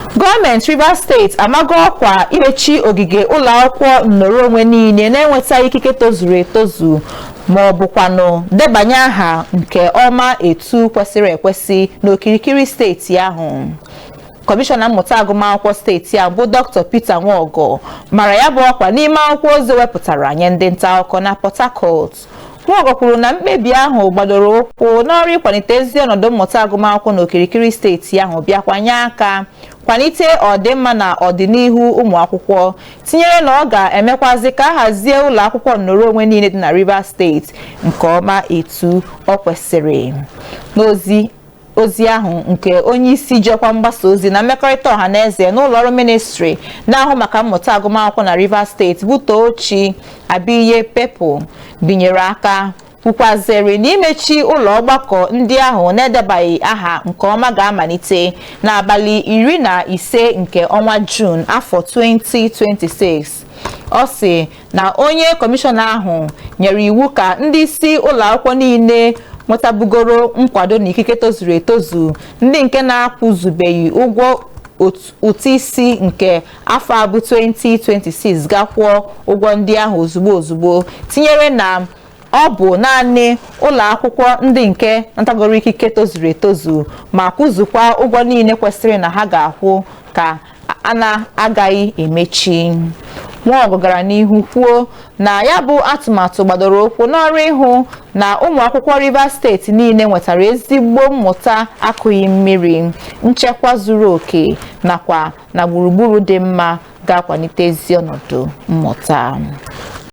gọọmenti Rivers steeti amago ọkwa imechi ogige ụlọ akwụkwọ nnọrọ onwe niile na-enwetaghị ikike tozuru etozu ma ọ bụkwanụ debanye aha nke ọma etu kwesịrị ekwesị n'okirikiri steeti ahụ kọmishọna mmụta agụmakwụkwọ steeti a bụ dr peter nwagor mara ya bụ ọkwa n'ime akwụkwọ ozi e wepụtara nye ndị nta akụkọ na port harcourt Nwagor kwuru na mkpebi ahụ gbadoro ụkwụ n'ọrụ ịkwalite ezi ọnọdụ mmụta agụmakwụkwọ n'okirikiri steeti ahụ bịakwa nye aka kwalite ọdịmma na ọdịnihu ụmụ akwụkwọ tinyere na ọ ga-emekwazị ka a hazie ụlọ akwụkwọ nnọrọ onwe niile dị na Rivers steeti nke ọma etu o kwesịrị ozi ahụ nke onye isi ji ọkwa mgbasa ozi na mmekọrịta ọha na eze n'ụlọ ọrụ ministri na-ahụ maka mmụta agụmakwụkwọ na Rivers steeti bụ Tochi Abiye Pepple binyere aka kwukwazịrị na imechi ụlọ ọgbakọ ndị ahụ na-edebaghị aha nke ọma ga-amalite n'abalị iri na ise nke ọnwa Jun afọ 2026 ọ sị na onye kọmishọna ahụ nyere iwu ka ndị isi ụlọ akwụkwọ niile nwetabugoro nkwado na ikike tozuru etozu ndị nke na-akwụzubeghị ụgwọ ụtụ isi nke afọ a bụ 2026 gaa kwụọ ụgwọ ndị ahụ ozugbo ozugbo tinyere na ọ bụ naanị ụlọ akwụkwọ ndị nke natagoro ikike tozuru etozu ma kwụzukwa ụgwọ niile kwesịrị na ha ga-akwụ ka a na-agaghị emechi Nwagor gara n'ihu kwuo na ya bụ atụmatụ gbadoro ụkwụ n'ọrụ ịhụ na ụmụ akwụkwọ Rivers steeti niile nwetara ezigbo mmụta akụghị mmiri nchekwa zuru oke nakwa na gburugburu dị mma ga-akwalite ezi ọnọdụ mmụta